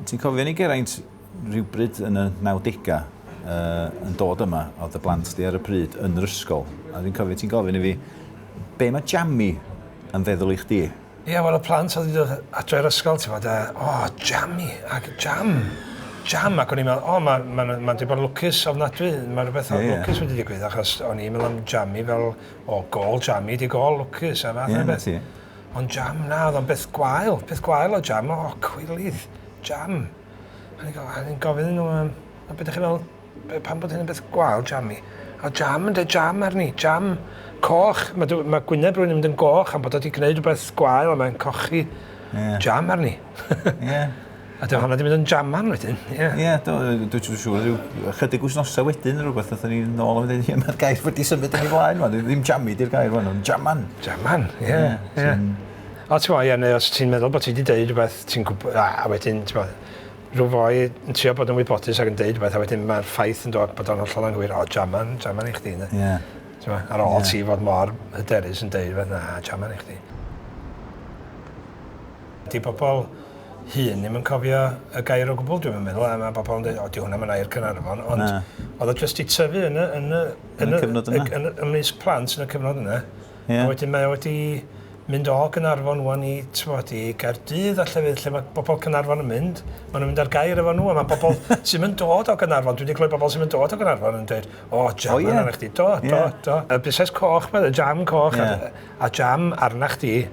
Ti'n cofio ni Geraint rhywbryd yn y nawdegau uh, yn dod yma, oedd y blant di ar y pryd yn yr ysgol, a dwi'n cofio ti'n gofyn i fi, be mae jammi yn feddwl i chdi? Ie, yeah, wel y plant oedd wedi dod adre i'r ysgol, ti'n fawr, o, oh, jammi, ac jam, jam, ac o'n i'n meddwl, o, oh, mae'n ma, ma, ma wedi bod yn lwcus ofnadwy, mae rhywbeth yeah, yeah. lwcus wedi digwydd, achos o'n i'n meddwl am jammi fel, o, oh, gol jammi, di gol lwcus, a fath yeah, o beth. Ond jam, na, oedd o'n beth gwael, peth gwael o jam, o, cwilydd, jam. A ni'n gofyn nhw, um, a beth ydych chi'n meddwl, pan bod hyn yn beth gwael, jam i? A jam, yn dweud jam arni, jam coch. Mae, mae gwyneb rwy'n mynd yn goch am bod wedi gwneud rhywbeth gwael a mae'n cochi yeah. jam arni. yeah. A dyna hwnna wedi mynd yn jaman wedyn, ie. Ie, do, dwi'n siŵr, siŵr, rhyw ychydig wythnosau wedyn neu rhywbeth, nathon ni nôl yn mynd, ie, mae'r gair wedi symud yn ei flaen, man, ddim jammi di'r gair fan, ond jaman. Jaman, ie, ie. O, ti'n fawr, ie, neu os ti'n meddwl bod ti wedi deud rhywbeth, ti'n gwybod, a wedyn, ti'n fawr, rhyw foi yn trio bod yn wybodus ac yn deud rhywbeth, a wedyn mae'r ffaith yn dod bod o'n hollol anghywir, o, jaman, jaman i chdi, ne? Ie. Ti'n fawr, ar ôl ti fod mor hyderus yn deud rhywbeth, na, jaman i chdi. 'Di pobl hŷn ddim yn cofio y gair o gwbl dwi'm yn meddwl a ma' pobl yn deud o 'di hwnna 'm yn air Caernarfon ond o'dd o jyst 'di tyfu yn y yn y yn y cyfnod yna yn ymysg plant yn y cyfnod yna. Ie. A wedyn mae o wedi mynd o Gaernarfon ŵan i t'mod i Gaerdydd a llefydd lle ma' bobl Caernarfon yn mynd ma' nw'n mynd ar gair efo n'w a ma' pobl sy'm yn dod o Gaernarfon dwi 'di clywed bobl sy'm yn dod o Gaernarfon yn deud o jam O ie. arnach chdi do do do. Y busnes coch 'ma y jam coch a a jam arnach chdi.